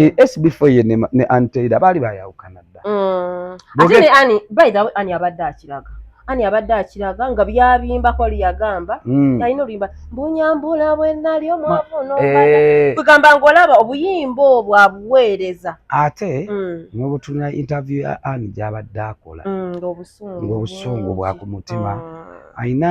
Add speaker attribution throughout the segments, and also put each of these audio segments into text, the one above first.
Speaker 1: eh, SB4 ye ne, ne Anteira baali bayawukana dda. Mm. Ate
Speaker 2: ne Ani by the way Ani abadde akiraga. Ani abadde akiraga nga byabimba ko liyagamba mm. yalina oluyimba mbunyambula bwe nali omwavu n'obala eh. kugamba ng'olaba obuyimba obwo abuweereza ate
Speaker 1: mm. n'obutunula interview ya Ani gy'abadde akola mm, ng'obusungu bwa ku mutima mm. alina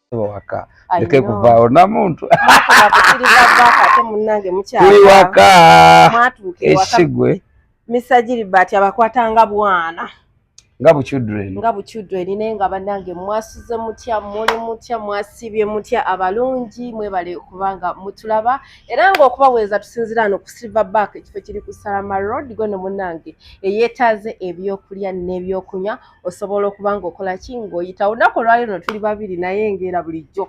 Speaker 1: waka ndeke kuvaawo namuntu tuli waka ekisigwe misajiri
Speaker 2: bati abakwatanga bwana nga
Speaker 1: buchildren nga buchildren naye nga
Speaker 2: banange mwasuze mutya muli mutya mwasibye mutya abalungi mwebale kubanga mutulaba era nga okubaweeza tusinzira no ku silver back ekifo kiri ku salama road gone munange eyetaaze ebyokulya n'ebyokunywa osobola okuba ng'okola ki ng'oyitawo olunaku olwali luno tuli babiri naye ngaera bulijjo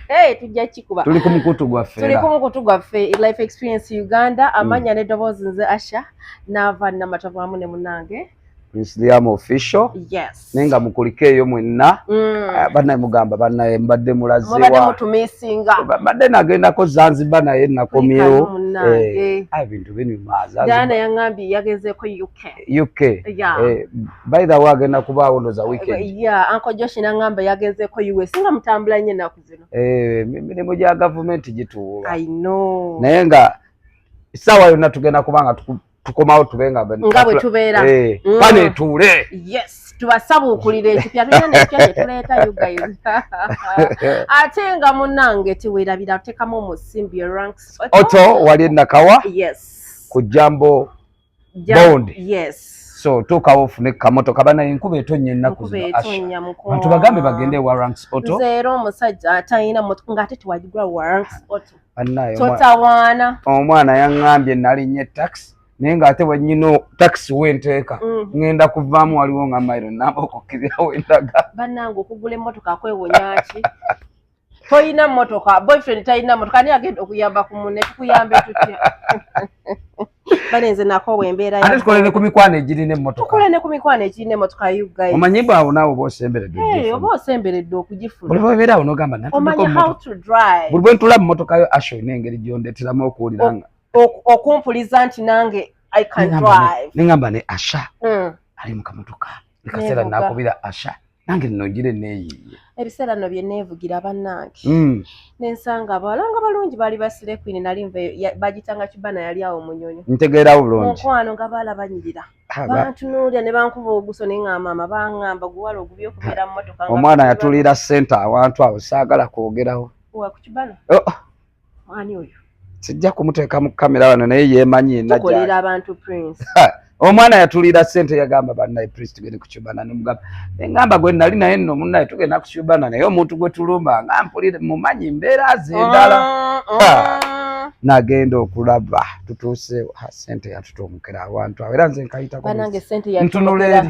Speaker 2: Hey, tujja kikuba tuli ku mukutu gwaffe
Speaker 1: tuli ku mukutu gwaffe life experience uganda mm. amanya mm. n'eddoboozi nze asha naava namatovu amu ne munange Islam official yes naye nga mukulike eyo mwenna mm. Ah, banaye mugamba banaye mbadde mulazewamutumisinga
Speaker 2: mbadde nagendako
Speaker 1: zanzibar naye nakomyewo eh, ah, ebintu binyumaazana yaŋambye
Speaker 2: yagezeeko uk UK. Yeah. Eh,
Speaker 1: by the way agenda kubaawo ndoza eh, weekend. Eh, yeah, Uncle Josh nangamba
Speaker 2: yagezeeko US nga mutambula nnyo ennaku zino. Eh, mirimu gya
Speaker 1: gavumenti gituwuuba. I know.
Speaker 2: Naye nga
Speaker 1: essaawa yonna tugenda kuba nga tukomawo tube nga nga bwe tubeera.
Speaker 2: Eh, mm. Pane etuule.
Speaker 1: Yes. tubasabuukulira
Speaker 2: ekipya tulina nekipya kyetuleeta you guys ate nga munange tewerabira tekamu omusimbi oto wali
Speaker 1: enakawa yes ku jambo bond yes so tuukawo ofune kamotoka bana enkuba etonnya ennaku zinobantu bagambe bagende ewa ranks otoera omusajja
Speaker 2: atalina motoka ngaate tewagigula wa ranks oto totawaana omwana
Speaker 1: yaŋŋambye nalinnye taxi naye ng'ate bwenyina takisi wenteeka mm. ŋŋenda kuvaamu waliwo nga mairo namba okukkirirawo endaga bannange okugula
Speaker 2: emmotoka kwewonyaki toyina motoka boyfriend tayina motoka ani agenda okuyamba ku mune tukuyambe tutya banenze nako wembeera ate tukole ne ku mikwano
Speaker 1: egirina emmotoka tukole ne ku mikwano egirina
Speaker 2: emmotoka you guys omanyi bwawo naawe oba
Speaker 1: osemberedde hey, oba osemberedde
Speaker 2: okugifuna buli bwebeera awo nogamba
Speaker 1: omanyi how to drive buli bwe ntula mu motoka yo asho ina engeri gyondeteramu okuwulira nga okumpuliza
Speaker 2: nti nange i can drive nengamba ne asha
Speaker 1: mm. ali mu kamotoka nkaseera nakubira asha nange nno ngira eneeyiiye ebiseera nno bye
Speaker 2: neevugira bannange hmm. nensanga abawala nga balungi baali basire kwini nali nva bagitanga kibana yali awo munyonyo ntegeerawo bulungi
Speaker 1: mukwano nga baala
Speaker 2: banyirira bantunuulira ne bankuba oguso naye nga maama bangamba guwala ogubi okubeera mu motoka omwana yatulira
Speaker 1: sente awantu awo saagala kwogerawo wa ku kibana
Speaker 2: oh, oh. Ani oyo? Sijja kumuteeka
Speaker 1: mu kamera wano naye yeemanyi yenna gyali. abantu
Speaker 2: Prince. Omwana
Speaker 1: yatulira ssente yagamba bannaye Prince tugende ku Cubana ne mugamba engamba gwe nali naye nno munnaye tugenda ku Cubana naye omuntu gwe tulumba nga mpulire mumanyi mbeera zendala. Ah, ah. Nagenda okulaba tutuuse ssente yatutuumukira awantu awo era nze nkayitako ntunula
Speaker 2: eri.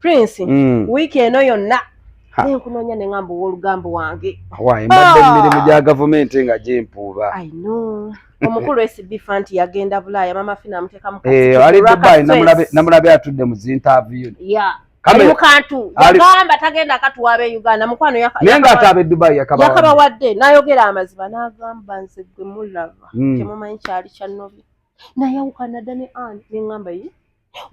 Speaker 2: prince mm. wiiki eno yonna nenkunoonya ne ngamba ow'olugamba wange wayi mbadde mu ah! mirimu
Speaker 1: gya gavumenti nga gyempuuba
Speaker 2: omukulu sb fanti yagenda bulaaya mama fina amuteeka mu eh, ali dubai
Speaker 1: namulabe atudde mu zintaviyu ali
Speaker 2: mukantu yagamba tagenda katuwaaba e uganda mukwano naye ngaate abe dubai
Speaker 1: yakabawadde
Speaker 2: nayogera amazima nagamba nze gwe mulaba hmm. temumanyi kyali kyanobi nayawukana dda ne an neŋamba yi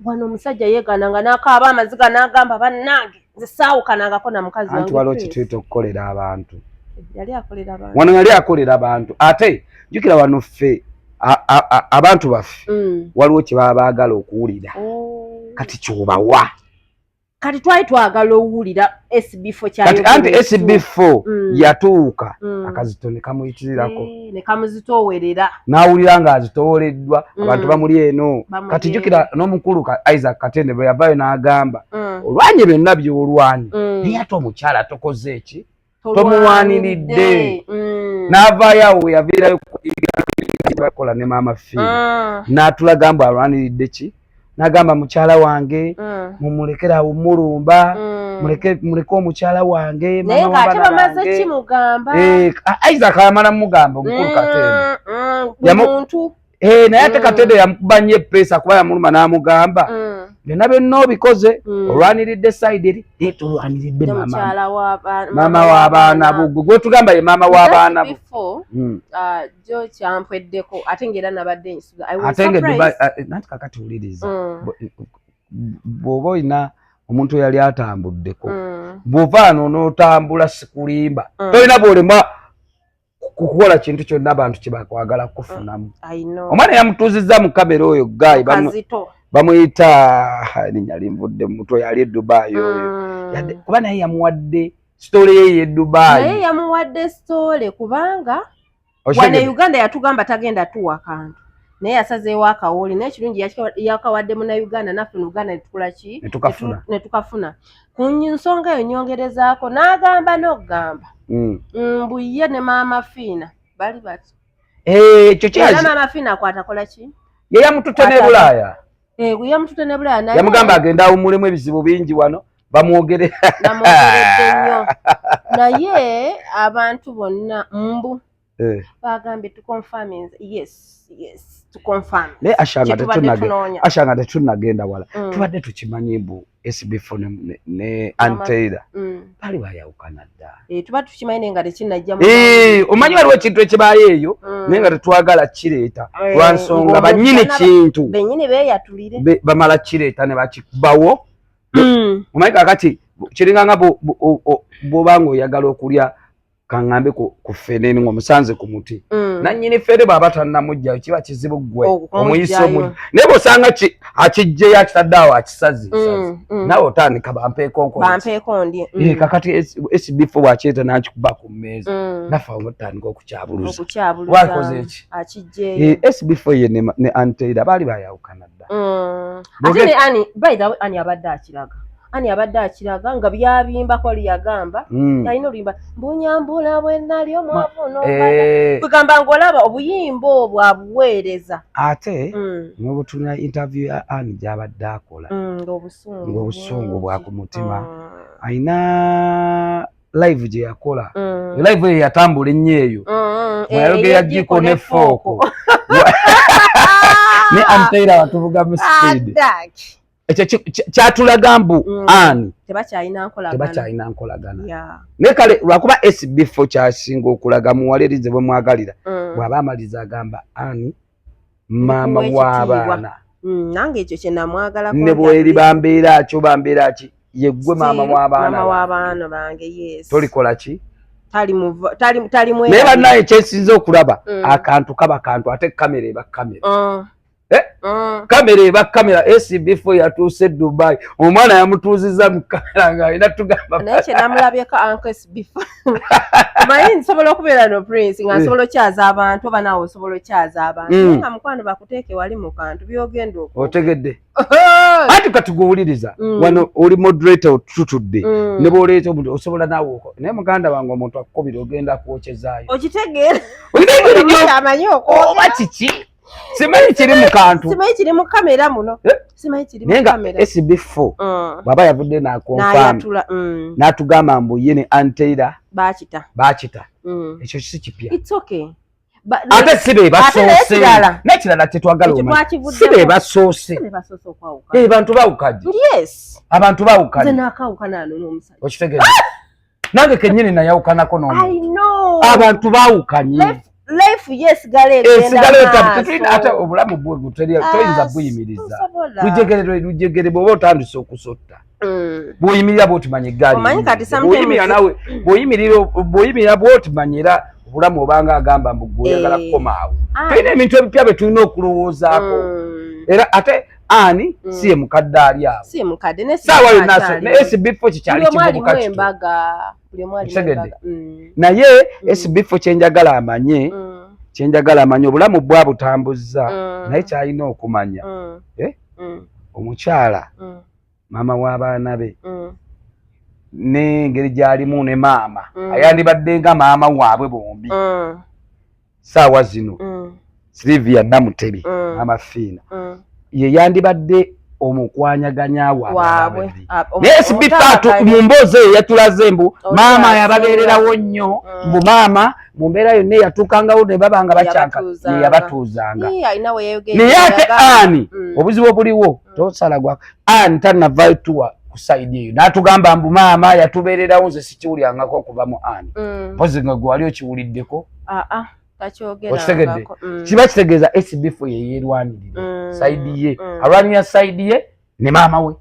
Speaker 2: wano omusajja yegaana nga nakaaba amaziga nagamba bannange nze saawukanangako na mukazi anti waliwo kituyita okukolera
Speaker 1: abantu
Speaker 2: wano yali akolera
Speaker 1: abantu ate jukira wano ffe abantu baffe mm. waliwo kyebaba baagala okuwulira oh. kati kyobawa kati
Speaker 2: twali twagala owulira sbfo kyaanti
Speaker 1: sbfo mm. yatuuka mm. akazito nekamuyikirirako eh, nekamuzitowerera
Speaker 2: nawulira nga
Speaker 1: azitowoleddwa mm. abantu bamuli eno kati jukira n'omukulu isaac katende bwe yavayo n'agamba olwanye byonna byolwanye naye ate omukyala tokoze eki tomuwaniridde mm. n'avaayo awo yaviirayo bakola ne maama fi ah. n'atulaga mbu alwaniridde ki nagamba mukyala wange mm. mumulekere awo mulumba mm. muleke muleke omukyala wange naye ng'ate bamaze
Speaker 2: kimugamba eh, isaac
Speaker 1: ayamala mumugamba omukulu mm, katemba mm,
Speaker 2: Eh, naye ate mm. katede
Speaker 1: yamukuba nnyo epeesa kuba yamuluma n'amugamba mm. byonna byonna obikoze mm. olwaniridde sayidi eri naye tolwaniridde maama w'abaana bugwe gwetugamba ye maama w'abaana bu uh,
Speaker 2: jo kyampweddeko ate ngaera nabadde nsuga ate nga eh,
Speaker 1: nanti kakati wuliriza bw'oba olina omuntu eyali atambuddeko bw'ovaano n'otambula sikulimba tolina bw'olemwa kukola kintu kyonna abantu kyebakwagala kufunamu mm, omwana yamutuuzizza mu kamera oyo gayi bamuyita erinya limvudde mumutwe yali edubayi oyo mm. kuba naye yamuwadde sitole ye yedubayi naye yamuwadde
Speaker 2: sitole kubanga wane uganda yatugamba tagenda tuwa kantu naye yasazeewo akawoli naye ekirungi yakawadde munauganda naffe muuganda netukola ki netukafuna ku nsonga eyo nyongerezaako n'agamba n'okugamba mm. mbu ye ne maama fiina bali bati eh, ekyo
Speaker 1: kyera maama fiina
Speaker 2: kwatakola ki ye yamutute ne
Speaker 1: bulaaya eh, yamutute ne
Speaker 2: bulaaya naye yamugamba agenda awumulemu
Speaker 1: ebizibu bingi wano bamwogere
Speaker 2: bamwogeredde nnyo naye abantu bonna mbu Eh. bagambye
Speaker 1: naye ashanga tetunagenda wala mm. tubadde tukimanyi mbu sbf ne anteira mm. bali bayawukana dda eh,
Speaker 2: eh, omanyi waliwo
Speaker 1: ekintu ekibayo eyo mm. naye nga tetwagala kireeta lwansonga banyini kintu
Speaker 2: bamala kireeta
Speaker 1: nebakibawo omanyi kakati kiringanga bwobanga oyagala okulya kaŋŋambe ku ffene ng'omusanze ku muti mm. nannyini ffene bw'aba tannamugjayo kiba kizibu ggwe omuyisa omu naye bw'osanga akiggyeyo akitadde awo akisazi mm, mm. nawe otandika bampeekonkondi eh, kakati sbf bw'akireeta n'akikuba ku mmeeza naffe awo mutandika okukyabuluza wakoze eki sbf eh, ye ne anteira baali bayawukana dda ate ne
Speaker 2: ani bayidha ani abadde akiraga ani abadde akiraga nga byabimba ko liyagamba mm. alina oluyimba mbunyambula bwenali omwavu nokugamba eh. nga olaba obuyimba obwo abuweereza ate
Speaker 1: mm. nobutulina interview ya ani gyabadde akola mm, ngaobusungu bwa ku mutima mm. alina live gye yakola mm. live eyo yatambula ennyo eyo mm, mm, mweyayogera eh, jiko ne fooko ne anteyira watuvuga mu speed ekyo kyatulaga mbu mm. ani tebakyalina nkolagana naye kale lwakuba sbfo kyasinga okulaga muwala erize bwe mwagalira mm. bw'aba amaliza agamba ani maama w'abaana mm, nange ekyo
Speaker 2: kyenamwagalako ne bweriba
Speaker 1: mbeera ki oba mbeera ki yeggwe maama w'abaana bange
Speaker 2: tolikola ki
Speaker 1: naye
Speaker 2: bannaye kyesinza okulaba
Speaker 1: akantu kaba kantu ate kamera eba kamera oh. eh? mm. kamera eba kamera acb4 yatuuse dubai omwana yamutuuziza mu kamera nga alina tugambanamulabyeko
Speaker 2: ancsbmanyi nsobola okubeera no prince nga eh. nsobola okyaza abantu oba naawe osobola okyaza abantu mm. nga mukwano bakuteeke wali mu kantu byogenda ok otegedde
Speaker 1: anti katiguwuliriza mm. wano oli moderator otutudde mm. ne bwoleeta omuntu osobola naawe naye muganda wange omuntu akukubira ogenda kwokyezaayo
Speaker 2: okitegeera
Speaker 1: oba kiki simanyi kiri mu kantu simanyi kiri mu kamera
Speaker 2: muno eh? simanyi kiri mu kamera SB 4 mm.
Speaker 1: baba yavudde na confirm mm. natugamba mbu ye ne Anteira bakita bakita mm. ekyo kisi kipya it's okay ate si be basoose n'ekirala kyetwagala si be basoose eh, bantu bawukaje abantu bawukaje okitegeeza nange kenyini nayawukanako noabantu bawukanye
Speaker 2: ate
Speaker 1: obulamu bwetoyinza buyimiriza lujegere bwoba otandise okusotta mm. bwoyimirira bwotimanya eggalibwoyimirira bwotimanya era obulamu obanga agamba mbu gweoyagala eh. kukomaawo tulina ebintu ebipya byetulina okulowoozaako mm. era ate ani mm. si ye mukadde ali awo si ye mukadde ne sawa
Speaker 2: yo nasa ne
Speaker 1: SB fo kikyali kibubu kati embaga buli
Speaker 2: mwali embaga mm.
Speaker 1: naye mm. SB fo kyenjagala amanye mm. kyenjagala amanye obulamu bwa butambuzza mm. naye kyalina okumanya mm. eh mm. omukyala mm. mama wa baana be mm. ne ngeri gyalimu ne maama mm. ayandibadde nga maama waabwe bombi mm. saawa zino mm. silivia namutebi mm. amafiina mm. ye yandibadde omukwanyaganya waabwe ah, naye sibifatu mu mboozi eyo yatulaze mbu maama yababeererawo nnyo mm. mbu maama mu mbeera yonna eyatuukangawo ne baba nga bacanka yeyabatuuzanga naye ate ani mm. obuzibu obuliwo mm. tosala gwa ani tanavayo tuwa ku saidi eyo natugamba mbu maama yatubeererawo nze sikiwulyangako okuva mu ani mpozi nga gwewali okiwuliddeko ah, ah, okitegedde mm. kiba kitegeeza sbf yeyerwanirire mm, saidi ye mm. alwanira saidi ye ne maama we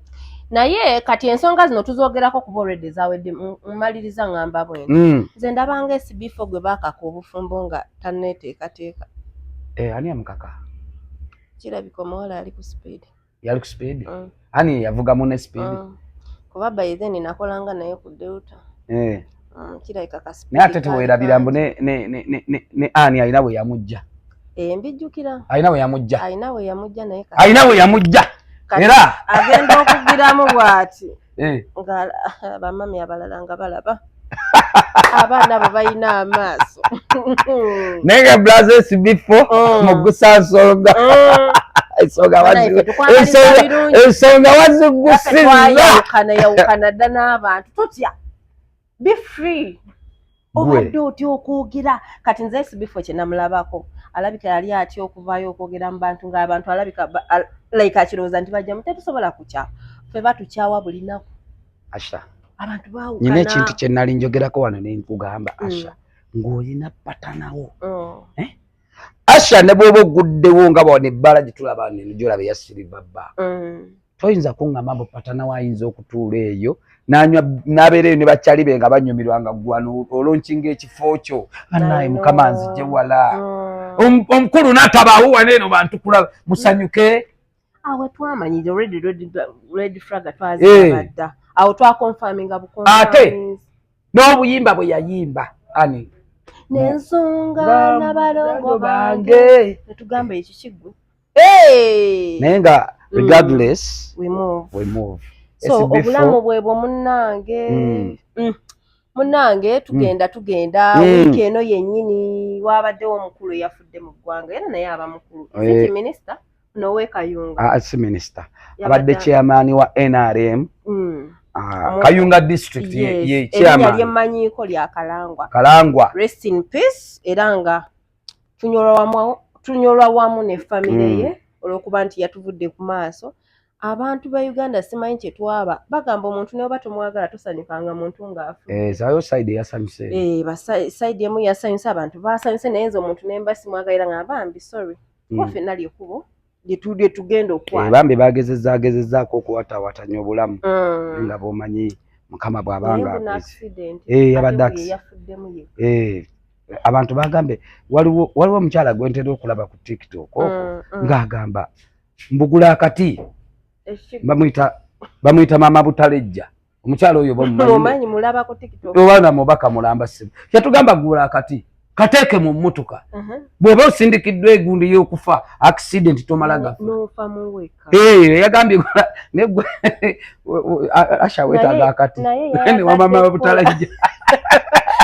Speaker 1: naye kati
Speaker 2: ensonga zino tuzogerako kuba olwedde zawedde mumaliriza ngamba bwene mm. nze mm. ndabanga sbf gwe bakaka obufumbo nga taneteekateeka eh, ani
Speaker 1: amukaka kirabika
Speaker 2: omuwala ali ku speed yali ku speed mm.
Speaker 1: ani yavuga mune speed mm. kuba by
Speaker 2: then nakolanga naye ku delta eh mm, kirabika ka speed naye ate tewerabira mbu
Speaker 1: ne ne ne ne ne ani alina we yamujja eh mbijjukira
Speaker 2: alina we yamujja
Speaker 1: alina we yamujja naye
Speaker 2: alina we yamujja
Speaker 1: era agenda okugiramu
Speaker 2: bwati eh. nga bamami abalala nga balaba abaana abo balina amaaso
Speaker 1: naye nga blaze esibifo mm. mu gusansonga mm. ensonga wazigusiza yawukana yawukana dda
Speaker 2: n'abantu totya be free obadde otya okwogera kati nze sibifo kyenamulabako alabika yali atya okuvayo okwogera mu bantu ngaabantu alabika like akirowooza nti bajjamu tetusobola kukya fe batukyawa bulinaku asha
Speaker 1: abantu bawukana
Speaker 2: nyina ekintu kyenali
Speaker 1: njogerako wano nenkugamba mm. asha ng'olina patanawo oh. eh? asha ne bwoba oguddewo nga bwa nebbala gyetulaba nenjolaba eyasiriva bba mm. toyinza kuŋŋamba mbu patanawo ayinza okutuula eyo nanywa nabeera eyo ne bakyali be nga banyumirwa nga gwano olonkinga ekifo kyo anaye mukama nzije wala mm. omukulu natabaawo wana eno bantu kulaba musanyuke awo
Speaker 2: twamanyire already red flag twazibadda eh. awo twakonfaminga bukonate
Speaker 1: n'obuyimba bwe yayimba ani nensonga
Speaker 2: nabalongo bange netugamba ekikigwe hey!
Speaker 1: naye nga mm. regardless mm. we move, we move. so obulamu
Speaker 2: bwebwo munange mm. mm. munange mm. tugenda mm. tugenda mm. wiiki eno yennyini waabaddewo omukulu eyafudde mu ggwanga era naye aba mukulu eh. minisita nowekayunga ah, si minisita
Speaker 1: abadde chairman wa nrm mm. Ah, kayunga district ye chairman yemanyiko lya
Speaker 2: kalangwa kalangwa
Speaker 1: rest in peace
Speaker 2: era nga tunyolwa wamu ne famire hmm. ye olwokuba nti yatuvudde ku maaso abantu ba uganda simanyi kyetwaba bagamba omuntu neoba tomwagala tosanyukanga muntu ngaafusaidi
Speaker 1: eh, emu yasanyusa
Speaker 2: abantu basanyuse naye nze omuntu nemba simwagalira nga bambi sorry hmm. waffe nali ekubo lyetudye tugenda okwana eh, bambi bagezeza
Speaker 1: agezezaako okuwatawatanya obulamu mm. nga bomanyi mukama bwabanga eh, abadde eh, abantu bagambe waliwo omukyala gwentera okulaba ku tiktok oko mm, mm. ngaagamba mbugula akati bamuyita bamuyita maama butalejja omukyalo oyo bamumanyi mulaba
Speaker 2: ku tiktok oba na mubaka mulamba
Speaker 1: sibu kyatugamba gula kati kateeke mu mmotoka uh-huh. bw'oba osindikiddwa egundi y'okufa accident tomala
Speaker 2: gafayagambye
Speaker 1: ashawetaga akati wamama babutalajja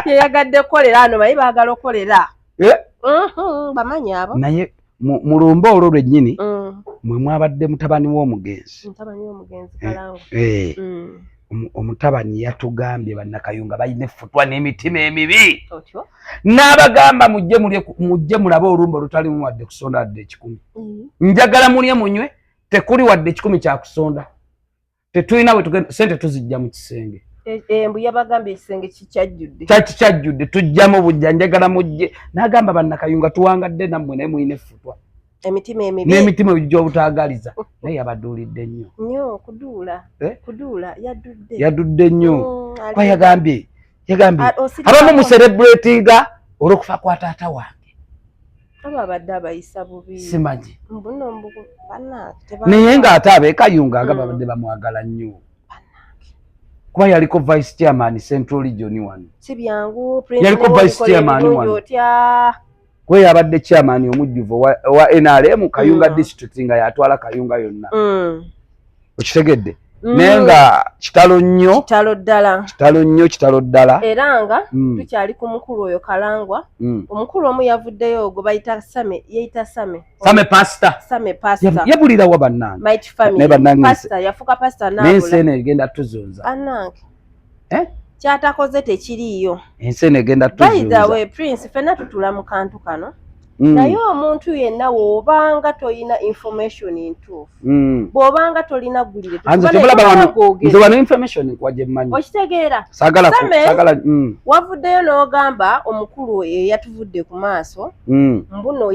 Speaker 2: yeyagadde kukolera ano baye baagala okukolera eh? mm-hmm, bamanyi abo naye mu
Speaker 1: lumba olwo lwennyini mm. mwe mwabadde mutabani w'omugenzi
Speaker 2: eh, mm.
Speaker 1: omutabani yatugambye bannakayunga balina effutwa n'emitima emibi n'abagamba mujje mulabe olumba olutalimu wadde kusonda wadde ekikumi mm. njagala mulye munywe tekuli wadde ekikumi kyakusonda tetulina wetugenda sente tuzijja mu kisenge e, e, mbu yabagamba
Speaker 2: ekisenge kikyajjudde kyaki kyajjudde
Speaker 1: tujjamu bujja njagala mujje nagamba bannakayunga tuwangadde nammwe naye mulina effutwa emitima emibi
Speaker 2: n'emitima ejija obutaagaliza
Speaker 1: naye yabaduulidde nnyo nyo kuduula eh?
Speaker 2: kuduula yadudde
Speaker 1: yadudde nnyo mm, kuba yagambye yagambye ah, abamu muserebulatinga olw'okufa kwa taata wange
Speaker 2: ababadde abayisa bubi simanyi mbuno
Speaker 1: mbu
Speaker 2: banange naye ng'ate
Speaker 1: abekayunga nga hmm. babadde bamwagala nnyo kuba yaliko vice chairman central region one
Speaker 2: yaliko vice
Speaker 1: chairman one kuba yabadde chairman omujjuvu owa nrm kayunga hmm. district nga yatwala kayunga yonna hmm. okitegedde mm. naye nga kitalo nnyo kitalo ddala kitalo nnyo kitalo ddala era nga mm.
Speaker 2: tukyali ku mukulu oyo kalangwa mm. omukulu omu yavuddeyo ogwo bayita same yeyita same same pasta same pasta yabulirawa bannange naye bannange yafuuka pasta naye ensi eno egenda
Speaker 1: tuzunza bannange
Speaker 2: eh? kyatakoze tekiriiyo ensi eno egenda
Speaker 1: tuzuuza prince fena
Speaker 2: tutula mu kantu kano Mm. naye omuntu yenna wobanga tolina information ntuufu mm. bwobanga tolina gulirnze wano
Speaker 1: information nkwajemmanyi okitegeera sagala
Speaker 2: mm. wavuddeyo n'ogamba omukulu eyatuvudde ku maaso mbuno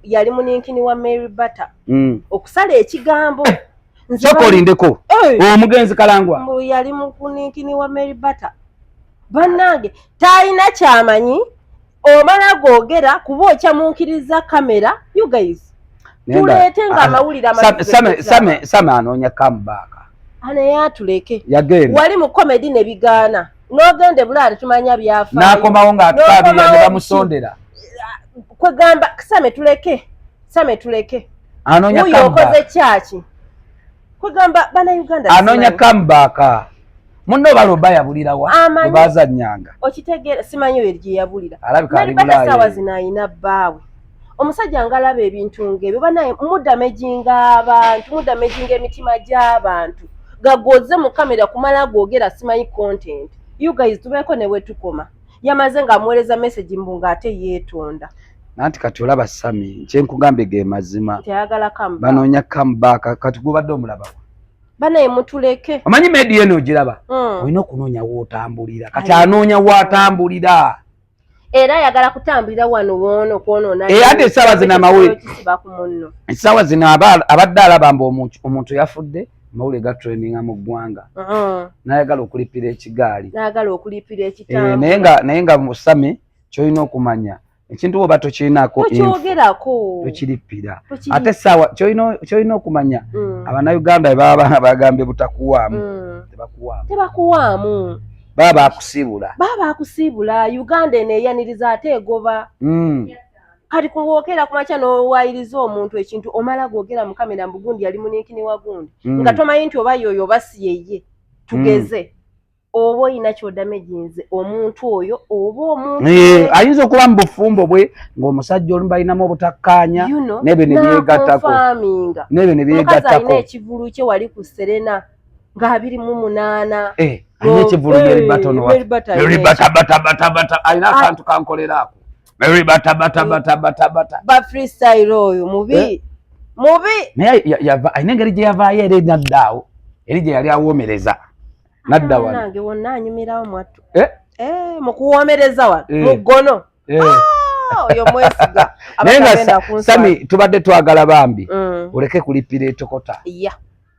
Speaker 2: yali muninkini wa mary butter okusala ekigambo sooka olindeko
Speaker 1: omugenzi kalangwa mbu yali mukuninkini
Speaker 2: wa mary butter bannange talina kyamanyi omala googera kuba okyamunkiriza kamera you guys tuleete nga amawulire amasame
Speaker 1: anoonya kamubaaka anaye
Speaker 2: atuleke yagenda wali mu
Speaker 1: komedi ne
Speaker 2: bigaana n'ogenda ebulaali tumanya byafaayo n'akomawo ng'atwabira
Speaker 1: ne bamusondera
Speaker 2: kwegamba same tuleke same tuleke anonya kamba
Speaker 1: okoze kyaki
Speaker 2: kwegamba bana uganda anonya kamba
Speaker 1: ka munno baloba yabulira wa baza nyanga okitegera simanyi
Speaker 2: werje yabulira alabika ali bulaye sawa zinayina bawe omusajja ngalaba ebintu ngebyo banaye mudamejinga abantu mudamejinga emitima gy'abantu gagoze mu kamera kumala googera simanyi content you guys tubeeko ne wetukoma yamaze ng'amuweereza message mbu ng'ate yeetonda nanti kati
Speaker 1: olaba sami kyenkugambye ge mazima banoonya
Speaker 2: comeback
Speaker 1: kati gubadde omulaba banaye
Speaker 2: mutuleke omanyi medi yeno
Speaker 1: ogiraba hmm. olina okunoonya wootambulira kati anoonya woatambulira era
Speaker 2: ayagala kutambulira wano wono kwonona era ate esaawa zino
Speaker 1: amawulire esaawa zino abadde alaba mbu omuntu yafudde mawule gatraininga mu ggwanga uh-huh. nayagala okulipira ekigaali
Speaker 2: eh, naye nga musami
Speaker 1: kyolina okumanya ekintu woba tokirinako tokirippira ate saawa kyolina okumanya mm. abanauganda bebaba bagambye butakuwaamu mm. tebakuwaamu
Speaker 2: baba bakusiibula
Speaker 1: baba bakusiibula uganda eno
Speaker 2: eyaniriza ate egoba mm. kati kuwokera kumakya nowayiriza omuntu ekintu omala gwogera mukamera mbugundi yali muninkini wagundi nga tomanyi nti oba yoyo oba siyeye tugeze oba olina kyodamage nze omuntu oyo oba omuntu eh, ayinza okuba mu
Speaker 1: bufumbo bwe ng'omusajja olumu balinamu obutakkaanya nebyo ne byegattako nebyo ne
Speaker 2: byegattako ekivulu kye wali ku serena ng'abiri mu munaana eh, alina ekivulu
Speaker 1: eh, yeribatonwabatabatabata alina ah. akantu kankolera ako meribatabatabatabatabata
Speaker 2: ba freestyle oyo mubi mubi naye
Speaker 1: alina engeri gye yavaayo era enaddaawo eri gye yali awoomereza nadda wano nange wonna anyumirawo
Speaker 2: mwattu eh? eh, mu kuwoomereza wano eh. mu ggono ah, oyo mwesiga naye nga
Speaker 1: sami tubadde twagala bambi mm. oleke kulipira etokota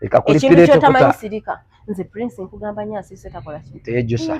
Speaker 1: leka kulipira etokota
Speaker 2: nze prince nkugamba nyo asiise takola kintu teyejusa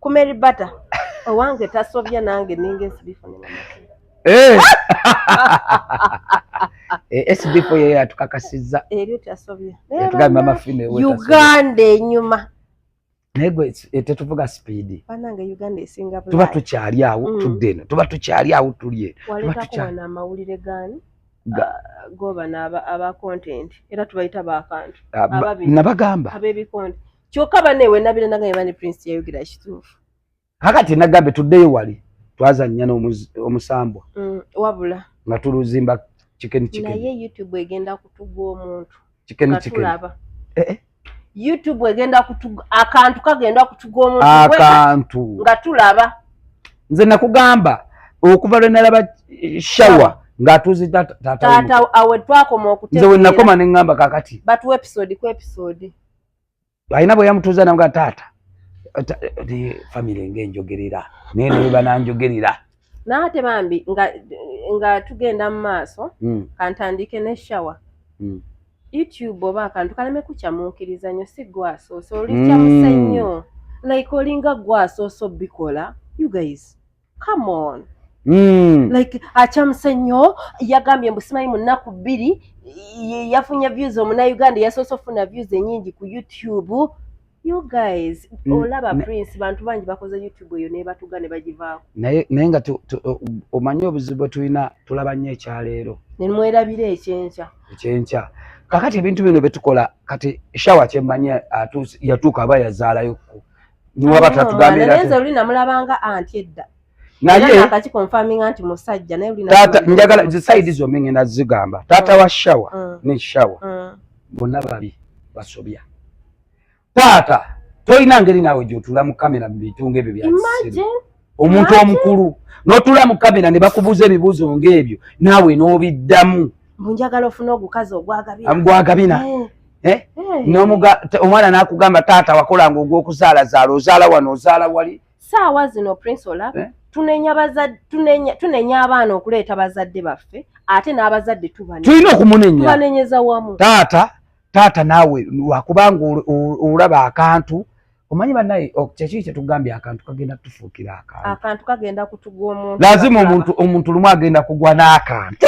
Speaker 2: ku Mary Bata owange tasobya nange ninga esibifunye
Speaker 1: eh! eh, SB4 yeyo yatukakasizza eryo tasobya
Speaker 2: yatugamba amafilme
Speaker 1: Uganda
Speaker 2: enyuma naye gwe
Speaker 1: eh, tetuvuga sipiidi
Speaker 2: tuba tukyali awo
Speaker 1: mm. tudde eno tuba tukyali awo tuli eno
Speaker 2: amawulire gani ah, goba naba aba content era tubayita bakantu ah, nabagamba
Speaker 1: abebikonti
Speaker 2: kyoka bane wenabira nanga yebani prince yayogera ekituufu kakati
Speaker 1: nagambe tuddeyo wali twazannya n'omusambwa mm, wabula
Speaker 2: nga tuluzimba
Speaker 1: chicken chicken naye youtube
Speaker 2: egenda kutugwa omuntu chicken chicken
Speaker 1: eh, eh.
Speaker 2: youtube egenda kutugwa akantu kagenda kutugwa omuntu akantu nga
Speaker 1: tulaba
Speaker 2: nze
Speaker 1: nakugamba okuva lwe nalaba eh, shawa ng'atuuze taata
Speaker 2: awe twakoma okutegeera nze wenakoma ne ŋŋamba
Speaker 1: kakati batuwa
Speaker 2: episode
Speaker 1: ku episode
Speaker 2: alina
Speaker 1: bwe yamutuuza naga taata
Speaker 3: famire ngaenjogerera naye naye bananjogerera naate
Speaker 2: bambi nga, nga tugenda mu maaso mm. kantandiike ne shawa mm. youtube oba akantu kaleme kukyamuukiriza nyo si gwasoose olikyamuse hmm. nnyo mm. like olinga gwasoose obikola you guys come on Mm. like acamuse nnyo yagambye mbu simanyi mu nnaku bbiri yafunye views omunauganda yasoose okufuna views enyingi ku youtube you guys mm. olaba prince bantu bangi bakoze youtube eyo nebatuga ne bagivaako naye naye nga
Speaker 3: omanyi obuzibu bwe tulina tulaba nnyo ekyaleero nemwerabira
Speaker 2: ekyenkya ekyenkya kakati ebintu
Speaker 3: bino byetukola kati shawa kyemmanyi yatuuka aba yazaalayo niwaba tatugambira naye nze luli namulabanga
Speaker 2: anti edda naye akaki
Speaker 3: confirminga
Speaker 2: nti musajja naye luli tata njagala zi side
Speaker 3: zo menye na zigamba tata mm. wa shower mm. ne shower mm. bonna babi basobya tata toyina ngeri nawe jotula mu kamera mu bitunga ebyo bya imagine omuntu omukulu notula mu kamera ne bakubuuza ebibuuzo ng'ebyo naawe n'obiddamu bunjagala ofuna
Speaker 2: ogukazi ogwagabina
Speaker 3: eh. Eh? Eh. omwana nakugamba taata wakolanga ogwokuzalazaala ozaala wano ozaala wali saawa zino prince
Speaker 2: olaba tunenya abaana okuleeta bazadde baffe ate n'abazadde tulina
Speaker 3: okumunenyatubanenyeza
Speaker 2: wamu taata taata
Speaker 3: naawe wakubanga olaba akantu omanyi banaye kyekiri kyetugambye akantu kagenda kutufuukira akantu kagenda
Speaker 2: kutugwa omuntu lazima omuntu omuntu
Speaker 3: lumu agenda kugwa n'akantu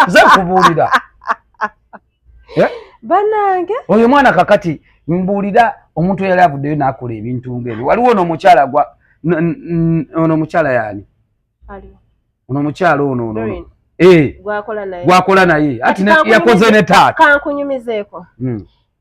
Speaker 3: ze kubuulira eh?
Speaker 2: banange oyo mwana kakati
Speaker 3: mbuulira omuntu eyali avuddeyo n'akola ebintu ngaebyo waliwo ono omukyala gwa ono omukyala yaani ono omukyala ono ono eh. gwakola naye ati yakoze ne taata kankunyumizeeko
Speaker 2: hmm.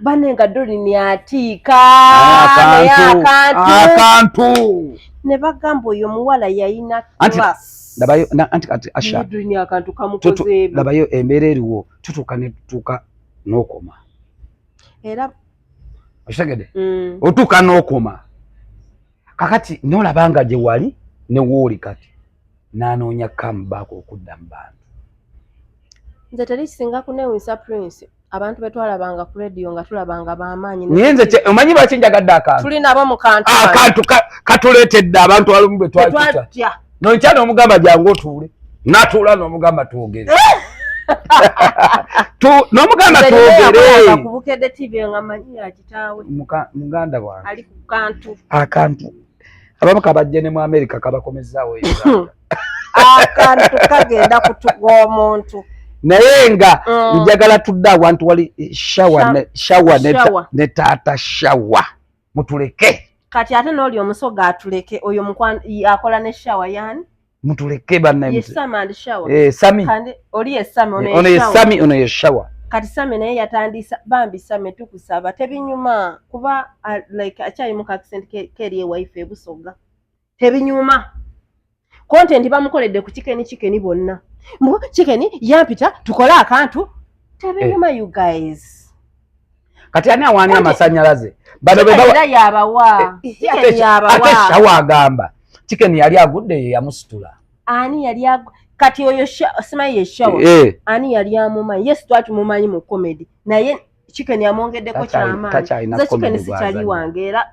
Speaker 2: bane nga dolini atiika naye akantu
Speaker 3: akantu ne bagamba
Speaker 2: oyo omuwala yayina class labayo anti kati
Speaker 3: asha dolini akantu kamukoze
Speaker 2: ebi labayo embeera eriwo
Speaker 3: tutuuka ne tutuuka n'okoma
Speaker 2: era
Speaker 3: okitegede mm. otuuka n'okoma kakati nolaba nga gye wali ne wooli kati n'anoonya come back okudda mu bantu
Speaker 2: nze teri kisinga kunewunyisa prince abantu betwalabanga ku radio nga tulabanga bamaanyi naye nze omanyi lwaki
Speaker 3: njagadde akantu tuli nabo mu kantu ah,
Speaker 2: akantu katuleetedde
Speaker 3: abantu alumu betwatya nonkya n'omugamba jangu otuule natuula n'omugamba twogere eh! nomugamba
Speaker 2: twogereakantu
Speaker 3: abamu kabajje ne mu amerika kabakomezaawo
Speaker 2: akantu kagenda kutuga omuntu naye nga
Speaker 3: mm. njagala tudde awantu wali shawa ne taata shawa mutuleke kati ate nooli
Speaker 2: omusoga atuleke oyo akola ne shawa yani mutuleke banaye
Speaker 3: eh,
Speaker 2: sami ono ye sami ono ye
Speaker 3: shawa kati sami naye
Speaker 2: yatandisa bambi sami tukusaba tebinyuma kuba uh, like akyali mu kakisenti keri ewaife ebusoga tebinyuma kontenti bamukoledde ku kikeni kikeni bonna mbu kikeni yampita tukole akantu tebinyuma eh. you guys kati
Speaker 3: ani awaani amasanyalaze
Speaker 2: banoyabawaateshawa eh, agamba
Speaker 3: chiken yali agudde ye yamusitula ani yali
Speaker 2: kati oyo simayi yeshawa eh, eh. ani yali amumanyi yes twaki mumanyi mu comedy naye chiken amwongeddeko kyamaani ze chiken sikyali wange era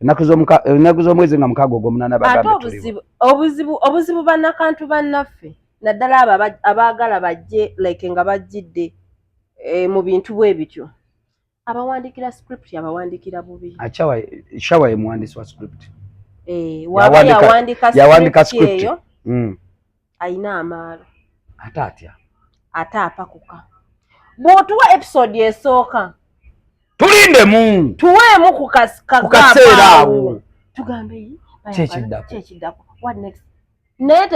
Speaker 3: ennaku z'omwezi nga mukaaga ogwomunaana bagambeobuzibu obuzibu
Speaker 2: banakantu bannaffe naddala abo abaagala bajje like nga bajjidde eh, mu bintu bwe bityo abawandiikira script abawandiikira bubi shawa ye
Speaker 3: muwandiisi wa script eh,
Speaker 2: waba
Speaker 3: yawandiika
Speaker 2: script eyo hmm. alina amaalo ate atya ate apakuka bwotuwa episode esooka tulindemu
Speaker 3: tuweemu
Speaker 2: kukaseera
Speaker 3: awo tugambe
Speaker 2: kyekiddako naye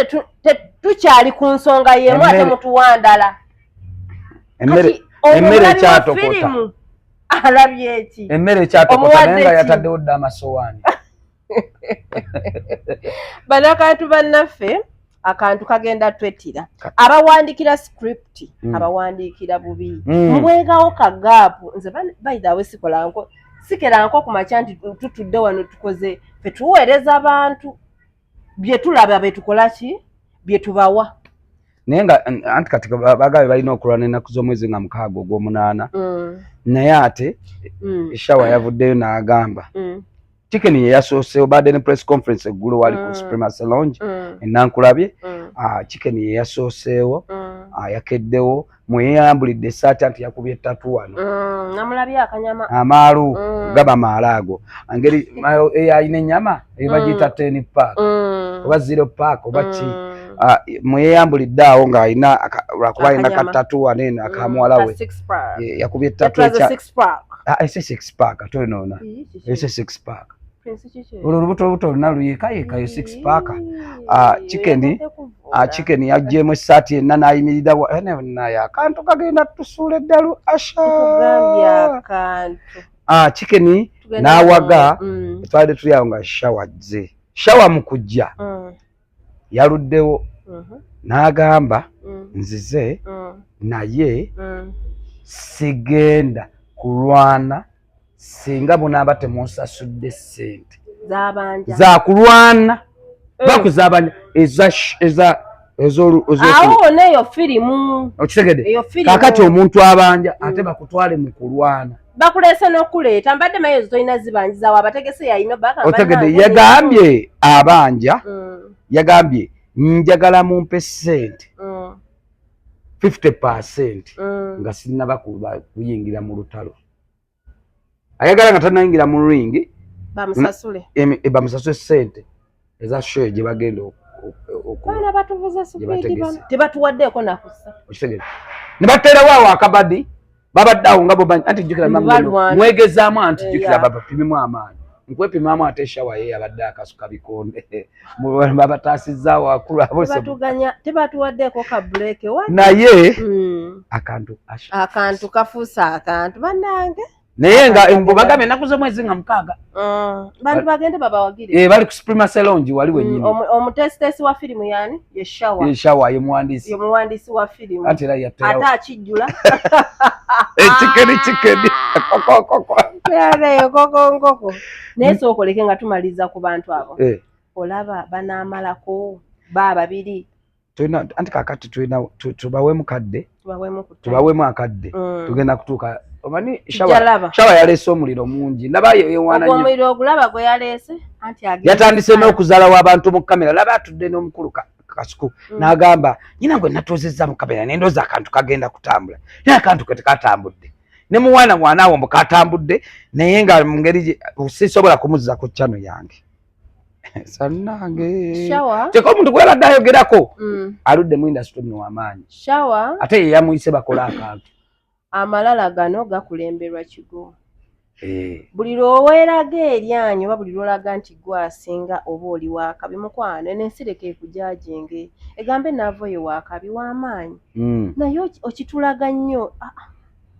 Speaker 2: tukyali ku nsonga yemu ate mutuwandala
Speaker 3: emmere ekyatokota alabye
Speaker 2: eki emmere ekyatokota naye
Speaker 3: nga yataddewo dda amasowaani
Speaker 2: banakantu bannaffe akantu kagenda twetira abawandikira script mm. abawandikira bubi mm. mubwegawo kagaapu nze baidhawe sikolanko sikeranko kumakya nti tutudde wano tukoze fetuweereza abantu byetulaba betukola ki byetubawa naye nga
Speaker 3: anti kati bagabe balina okulwana enaku z'omwezi nga mukaaga ogw'omunaana mm. naye ate mm. eshawa yavuddeyo n'agamba mm. Chicken ye yasoose obadde ne press conference eggulo wali ku mm. Supremacy Lounge mm. e Nankulabye. Mm. Ah, chicken ye yasooseewo ah, yakeddewo mweyambulidde esaati anti yakubye ttatu wano
Speaker 2: amaalu
Speaker 3: gaba maala ago ngeri eyalina ennyama ebagiyita ten park oba zero park oba ki ah, mweyambulidde awo ng'alina lwakuba alina kattatu wano eno akamuwala we yakubye ttatu pack ah ese six pack ate onoona ese six pack olwo olubuto olubuto oluna luyekayekayo six pack ah, chicken ah, chicken yajjemu esaati enna nayimirira naye eh, akantu kagenda tusuula eddalu asha ah, chicken nawaga mm. twali tuli awo nga shawa jze shawa mukujja mm. yaluddewo mhm. n'agamba mm. nzize mm. naye mm. sigenda kulwana singa bunaaba temunsasudde ssente zakulwana eh. bakuzabanya
Speaker 2: ezoneyo firimu okitegede
Speaker 3: kakati omuntu abanja ate bakutwale mu kulwana bakuleese n'okuleeta
Speaker 2: mbadde maye ezo tolina zibanjiza wa bategese yayina otegede yagambye
Speaker 3: abanja mm. yagambye njagala mumpe sente mm. fifty percent mm. nga sinaba kuyingira mu lutalo ayagala nga tanayingira mu ringi bamusasule e, bamusasule sente eza show gye bagenda okubaana
Speaker 2: batuvuze supidi bano tebatuwaddeeko nakusa okitegere
Speaker 3: ne bateerawo awo akabadi babadde awo nga bobanyi anti jjukira mwegezaamu anti eh, jjukira babapimimu amaanyi nkwepimaamu ate eshawa ye yabadde akasuka bikonde babataasizza wakulu abotebatuwaddeeko
Speaker 2: ka buleeke naye
Speaker 3: hmm. akantu
Speaker 2: akantu kafuuse akantu banange naye nga embu
Speaker 3: bagamba ennaku z'omwezi nga mukaaga mm. bantu bagende
Speaker 2: babawagire eh, bali ku suprema selongi
Speaker 3: wali mm, wenyini omuteesiteesi wa
Speaker 2: firimu yani yeshawa yeshawa
Speaker 3: ye muwandiisi ye muwandiisi wa firimu ate era
Speaker 2: yatera ate
Speaker 3: akijjula
Speaker 2: ekikeri eh, kikeri kokokoko yaleyo kokonkoko naye sookoleke nga tumaliza ku bantu abo eh. olaba banaamalako ba babiri tulina anti
Speaker 3: kakati tulina tubawemu kadde tubawemu akadde mm. tugenda kutuuka omanyi shawa yaleese omuliro mungi nabayo ewanayomuliro ogulaba gwe
Speaker 2: yaleese yatandise n'okuzala
Speaker 3: w'abantu mu kamera laba atudde n'omukulu kasuku mm. n'agamba nyina gwe natuuzizza mu kamera nendoza akantu kagenda kutambula naye akantu ke tekatambudde ne muwana mwana awo mbu katambudde naye nga mu ngeri sisobola kumuzza ku chano yange sanange kyeka omuntu gwebadde ayogerako mm. aludde mu industry mwe wamaanyi ate yeyamuyise bakola akantu amalala
Speaker 2: gano gakulemberwa kigo eh. buli lwoweeraga eryanyi oba buli lwolaga nti gwe asinga oba oli wakabi mukwano enensireka ekujajinge egambe naavo ye wakabi wamaanyi mm. naye okitulaga nnyo ah, ah.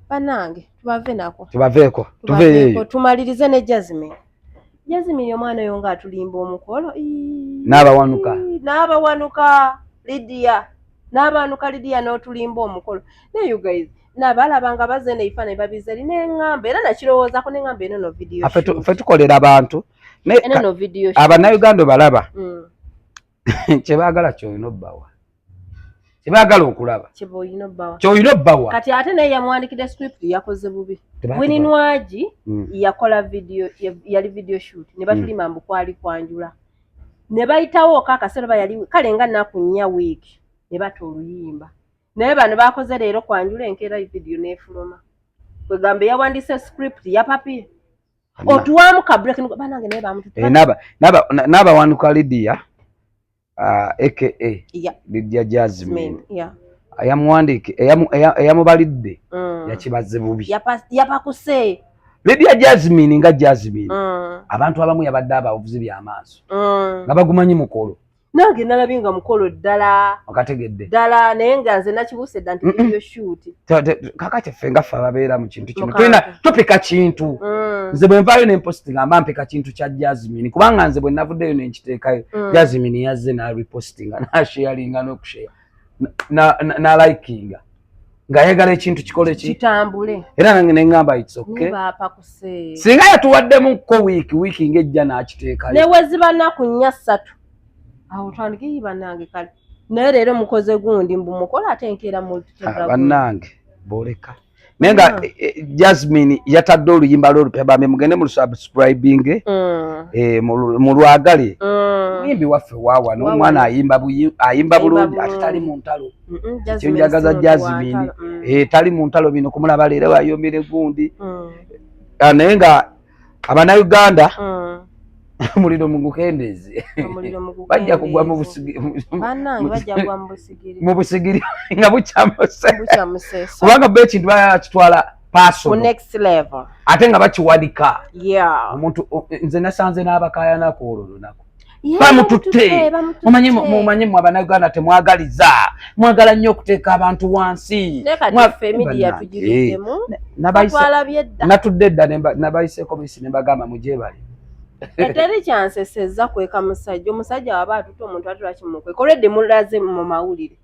Speaker 2: banange tubave nako
Speaker 3: tubaveeko tumalirize ne
Speaker 2: jasmine yazimiri omwana oyo nga atulimba omukolo n'abawanuka n'abawanuka lidiya n'abawanuka lidiya n'otulimba omukolo naye you guys nabalaba nga baze neifa ne babiza eri neŋŋamba era nakirowoozako neŋŋamba eno no vidiyo fe tukolera
Speaker 3: abantu naye abanayuganda obalaba mm. kyebaagala kyolina obbawa kyebaagala okulaba kyolina obbawa kati ate naye yamuwandikidde
Speaker 2: script yakoze bubi wininwagi hmm. yakola video yali video shoot ne batulima hmm. mbu kwali kwanjula ne bayitawo ka akaseera oba yali kale nga naku nnya wiiki ne bata oluyimba naye bano bakoze leero kwanjula enkeera video n'efuluma kwegamba yawandise script yapapye otuwamu ka break nuko banange naye bamututa eh, naba naba naba
Speaker 3: wanu ka Lydia uh, aka yeah. Lydia Jasmine yeah ayamuwandike eyamubalidde mm. yakibaze bubi yapakuse
Speaker 2: Lydia
Speaker 3: Jasmine nga Jasmine mm. abantu abamu yabadde abavuzi byamaaso mm. nga bagumanyi mukolo nange nalabye nga
Speaker 2: mukolo ddala okategedde ddala
Speaker 3: naye nga nze
Speaker 2: nakibuuse dda nti video shoot kaka kyaffe
Speaker 3: nga ffe ababeera mu kintu kino tulina tupika kintu mm. nze bwe nvaayo ne mposti ngamba mpika kintu kya jasmine kubanga nze bwe navuddeyo ne nkiteekayo mm. jasmine yazze n'arepostinga n'asheyalinga n'okusheya nalikinga ngayagala ekintu kikole kitambule era
Speaker 2: nange nengamba
Speaker 3: singa yatuwaddemu ko wiiki wiiki ngaejja nakiteekayo neweziba naku
Speaker 2: nnya ssatu awo twandikiyi banange kale naye leero mukoze gundi mbumukola ate enkeera mubannange
Speaker 3: ah, boleka naye nga mm. eh, eh, jasmine yatadde oluyimba lwolupya bambi mugende mu lusubscribing mm. eh, mu lwagale muyimbi mm. waffe wawa nomwana ayimba bulungi ate tali mu ntalo kyonjagaza jasmine tali mu ntalo bino kumulaba leero ayombere gundi ah, naye nga abana uganda mm. omuliro mugukendeeze bajja kugwa mu busigiri nga bukyamusekubanga bo ekintu bakitwala pasoate nga bakiwanika omuntu nze nasanze n'abakayanaku olwo lunaku bamututte mumanye mumanye mwe abanayuganda temwagaliza mwagala nnyo okuteeka abantu wansi natudde dda nabayiseeko bisi nembagamba mujebale eteri eh,
Speaker 2: kyanseseza kweka musajja omusajja waba atute omuntu atula kimukweka olwedde mulaze mu mawulire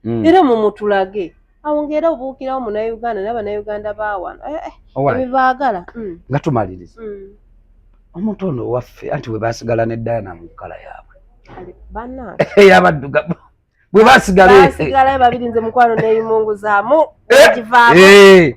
Speaker 2: mm. era mumutulage awo ngaera obuukirawo munauganda naye banauganda bawano eh, eh, ebibaagala mm. nga
Speaker 3: tumaliriza mm. omuntu ono owaffe anti webasigala ne diana mu kkala yaabwe eyabaddugabu bwebasigalabasigalayo babiri nze mukwano
Speaker 2: neyimungu zamu egivaako eh,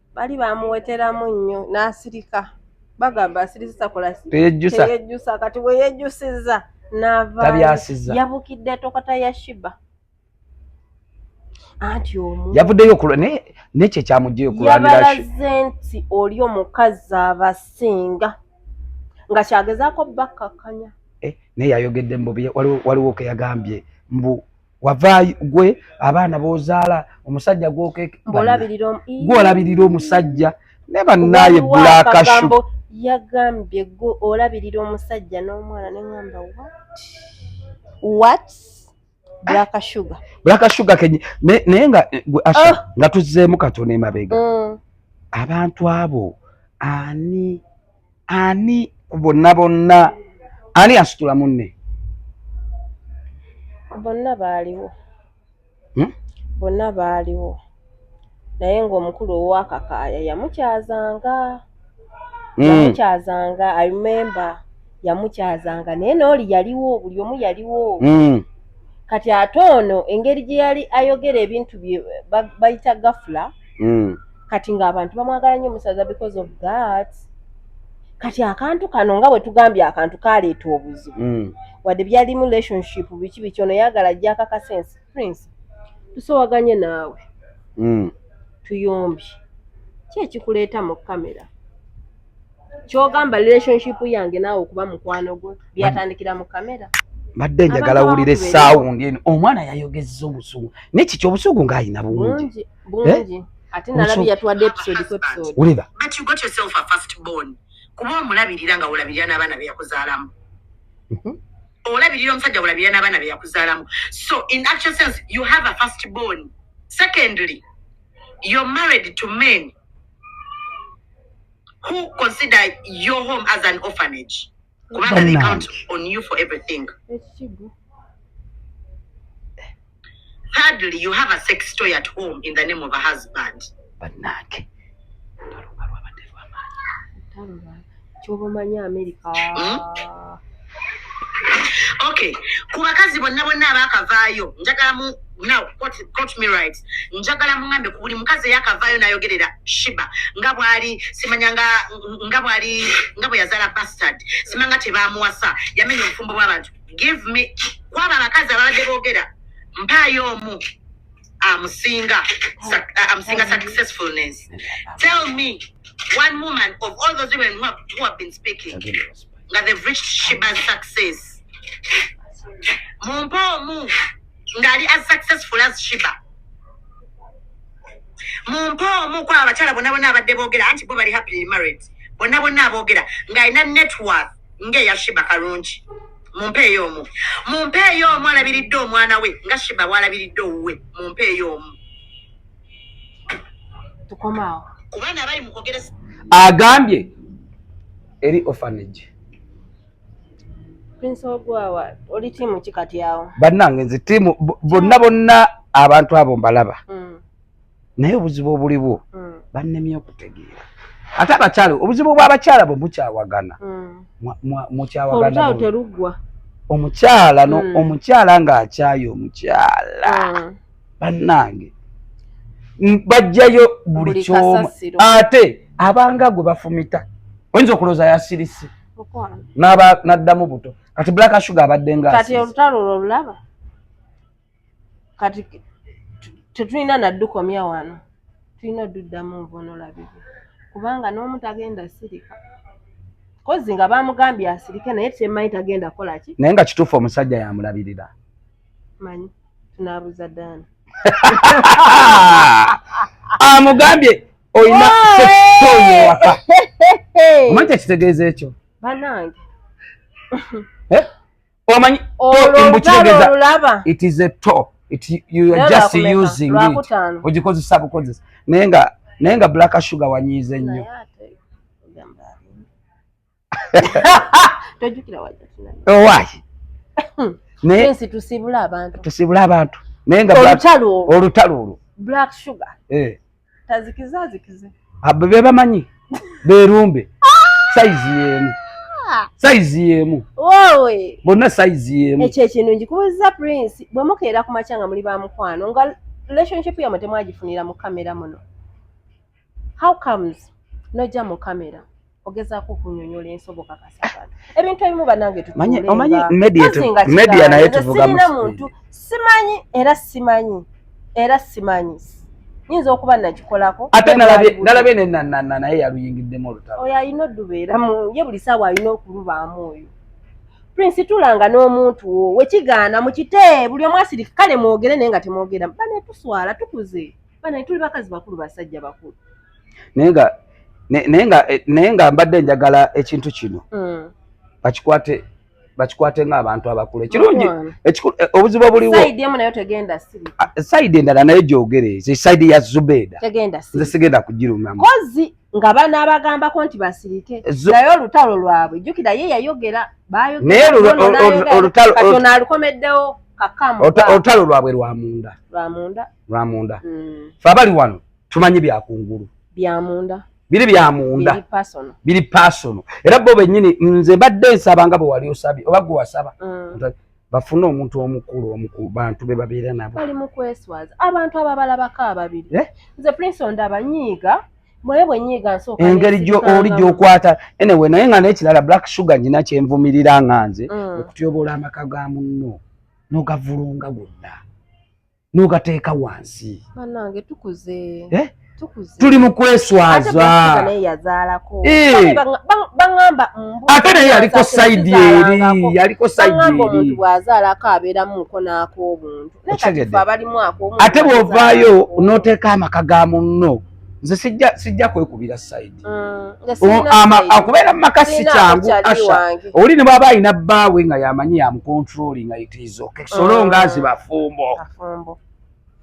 Speaker 2: bali bamuweteramu nnyo n'asirika bagamba asirizisa kolateyejjusa
Speaker 3: kati bwe
Speaker 2: yejjusiza naavabyasiza
Speaker 3: yabukidde tokata
Speaker 2: ya shiba anti omu yavuddeyo okulwa naye
Speaker 3: nekyo ekyamugyeyo okulwanyabalaze nti
Speaker 2: oli omukazi abasinga nga kyagezaako bakkakkanya eh, naye yayogedde
Speaker 3: mbu waliwo keyagambye mbu wavaayo gwe abaana b'ozaala omusajja gwolabirira omusajja ne bannaaye bulakashu yagambye
Speaker 2: gwe olabirira omusajja n'omwana ne ŋamba wat bulakashuga bulakashuga kenye naye nga
Speaker 3: eh, gwe asha ah! nga tuzzeemu katono emabega mm. abantu abo ani ani ku bonna bonna ani asitula munne bonna baaliwo
Speaker 2: hmm? bonna baaliwo naye ng'omukulu owakakaaya yamukyazanga hmm. yamukyazanga i remember yamukyazanga naye nooli yaliwo buli omu yaliwo hmm. kati ate ono engeri gye yali ayogera ebintu bye bayita gafula mm. kati ng'abantu bamwagala nnyo musaza because of that kati akantu kano nga bwe tugambye akantu kaleeta obuzibu mm. wadde byalimu relationship biki biki ono yagala ajja akakasensi prince tusowaganye naawe mm. tuyombye ki ekikuleeta mu kamera kyogamba relationship yange naawe okuba mukwano gwo byatandikira mu kamera mbadde njagala
Speaker 3: wulire saawundi eno omwana yayogezza obusungu nekikyo obusungu ng'alina bungi bulungi eh? ate
Speaker 2: nalabi yatwadde episode ku episode wulira but you
Speaker 3: got yourself a
Speaker 4: first born kuba omulabirira nga olabirira n'abaana be yakuzaalamu mhm. olabirira omusajja olabirira n'abaana be yakuzaalamu so in actual sense you have a first born secondly you're married to men who consider your home as an orphanage kubanga they count on you for everything thirdly you have a sex toy at home in the name of a husband banange kyoba omanyi amerika hmm? okay ku bakazi bonna bonna abaakavaayo njagala mu now quote, quote me right njagala mungambe ku buli mukazi eyakavaayo nayogerera shiba nga bwali simanya nga nga bwali nga bwe yazala bastard sima nga tebamuwasa yamenya obufumbo bw'abantu give me kwaba abakazi ababadde boogera mpaayo omu amusinga amusinga successfulness tell me one woman of all those women who have, who have been speaking nga they've reached shiba's success mumpe omu ngali as successful as shiba mumpe omu ku abakyala bonna bonna abadde boogera anti bo bali happily married bonna bonna aboogera ng'alina networth ng'eya shiba kalungi mumpeeyo omu mumpeeyo omu alabiridde omwana we nga shiba bwalabiridde owuwe mumpeeyo omu
Speaker 2: tukomaawo kubaana abali
Speaker 4: mukogeresa agambye
Speaker 3: eri ofanage
Speaker 2: bannange nze tiimu
Speaker 3: bonna bonna abantu abo mbalaba mm. naye obuzibu obuliwo mm. bannemye okutegeera ate abakyala obuzibu bw'abakyala bwe mukyawagana mm. mukyawagana
Speaker 2: omukyala no mm. omukyala
Speaker 3: ng'akyaye omukyala mm. bannange bajjayo buli kyomu ate abanga gwe bafumita oyinza okulooza yasirise naba naddamu buto kati black sugar abadde nga kati olutalo olulaba
Speaker 2: kati tetulina naddukomya wano tulina oduddamu nvonolabibwe kubanga n'omu tagenda sirika kozi nga bamugambye asirike naye temanyi tagenda kola ki naye nga kituufu omusajja
Speaker 3: yamulabirira manyi
Speaker 2: tunabuza daani
Speaker 3: amugambye olina sesitoyewaka omanyi kyekitegeeza ekyo banange eh? omanyi mbukitegezalaba
Speaker 2: it is a to
Speaker 3: it you are just using it ogikozesa bukozesa naye nga naye nga black sugar wanyiize nnyo
Speaker 2: tojukira wajja kinani oh why hmm. naye ensi tusibula abantu tusibula abantu naye nga olutalo
Speaker 3: olutalo olwo black sugar eh
Speaker 2: tazikiza zikize abo be
Speaker 3: bamanyi berumbe ah! size yenu ah! size yemu wowe bonna
Speaker 2: size
Speaker 3: yemu ekyo ekintu ngikubuza
Speaker 2: prince bwe mukeera ku machanga muli ba mukwano nga relationship yamwe temwagifunira mu kamera muno how comes nojja mu kamera ogezaako okunyonyola ensoboka kasabana ebintu ebimu banange tutuleomanyi
Speaker 3: media naye tuvugamusirina muntu
Speaker 2: simanyi era simanyi era simanyi nyinza okuba nakikolako ate nalabye
Speaker 3: nenanana naye yaluyingiddemu olutalo oyo alina odubeeramu
Speaker 2: ye buli saawa alina okulubaamu oyo prince tulanga n'omuntu wo wekigaana mukite buli omwasirika kale mwogere naye nga temwogera bane tuswala tukuze bana tuli bakazi bakulu basajja bakulu naye nga naye nga eh, naye nga mbadde njagala ekintu kino mm. bakikwate bakikwate ng'abantu abakulu ekirungi eh, obuzibu obuliwo ah, sayidi endala naye
Speaker 3: gyogere sayidi ya zubeda nze sigenda kugirumamu nga bana
Speaker 2: abagambako nti basirike naye olutalo lwabwe jjukira ye yayogera bayogealukomeddewo olutalo lwabwe
Speaker 3: lwamunda lwamunda mm. fe abali wano tumanyi byakungulu byamunda biri byamunda biri pasono era bo benyini nze mbadde nsaba nga bwewali osabye oba gwe wasaba mm. bafune omuntu omukulu omukulu bantu be babeera nabo bali mu kweswaza
Speaker 2: abantu ababalabako ababiri eh? nze prince ondaba nyiiga mwe bwenyiiga nsooka engeri oli
Speaker 3: gyokwata enewe naye nga nekirala black sugar nyina kyenvumirira nga nze mm. okutyobola amaka ga munno nogavulunga gonna n'ogateeka wansi banange tukuze
Speaker 2: eh? tuli
Speaker 3: mu kweswaza eh. ate naye yaliko saidi eri yaliko
Speaker 2: saidieate
Speaker 3: bwovaayo n'oteeka amaka ga munno nze sijja sijja kwekubira side mm, akubeera mu maka si kyangu asha oli ne bwaba alina bbaawe nga yamanyi yamucontrolling aitizoka ekisolonga mm. zibafumbo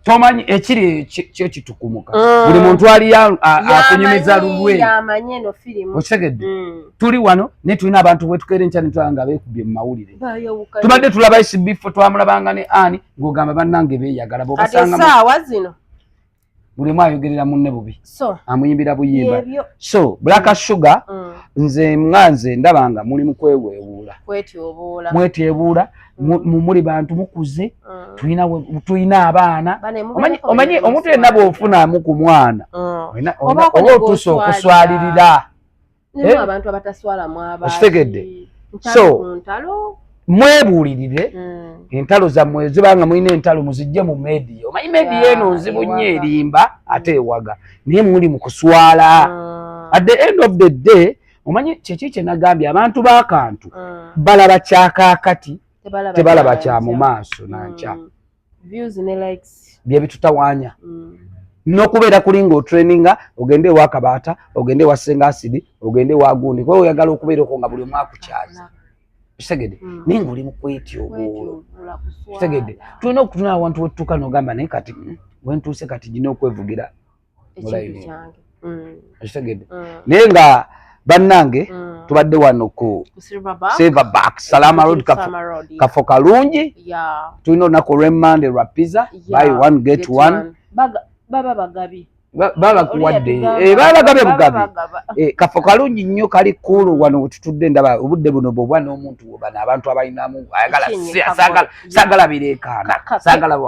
Speaker 3: tomanyi ekiri kyo kitukumuka mm. buli muntu ali akunyumiza lulwe okitegedde tuli wano naye tulina abantu bwetukeera enkya netulaba nga beekubye mu mawulire tubadde tulaba esibifo twamulabanga ne ani ng'ogamba bannange beeyagala bobasanga
Speaker 2: buli omu
Speaker 3: ayogerera munne bubi amuyimbira buyimba so black sugar mm. nze nga nze ndaba nga muli mukweweewuula mwetyebuula mm. muli bantu mukuze mm. tulina abaana omanyi omuntu yenna bwofunamu ku mwana oba otuusa okuswalirira Eh? abantu abataswala mwaba okitegedde so mwebuulirire hmm. entalo zammwe zibanga mulina entalo muzijje mu media omanyi media eno nzibu nnyo erimba ate hmm. ewaga naye muli mu kuswala hmm. at the end of the day omanyi kyeki kye nagambye abantu b'akantu balaba kyakakati tebalaba kya mu maaso nankya views ne likes bye bitutawanya mm. nokubeera kuli nga otraininga ogende ewa kabaata ogende ewa senga asidi ogende ewa gundi kuba oyagala okubeera okwo nga buli omu akukyaza kitegede mm. naye nga oli mukwetyobuulo kitegede tulina okutuna awantu wetutuuka nogamba naye kati mm, wentuuse kati gina okwevugira mm. ekitegedde mm. naye nga bannange mm. tubadde wano ku silver back salama road kafo kalungi tulina olunaku olwemande lwa pizza by one get one baba bagabi baba kuwadde eh, baba bagabe bugabi eh, kafo kalungi nnyo kali kulu wano wetutudde ndaba obudde buno bwobwa n'omuntu wobana abantu abalinamu ayagala si asagala sagala bireekaana sagala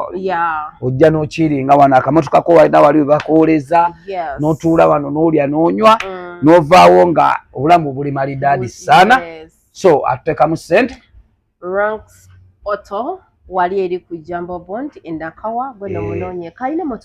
Speaker 3: ojja nokiringa wano akamotoka ko walina wali webakuwoleza notuula wano nolya nonywa mm. novaawo nga obulamu buli malidaadi sana so atutekamu sente
Speaker 2: wali eri ku jambo bond endakawa gweno eh. munonye kalina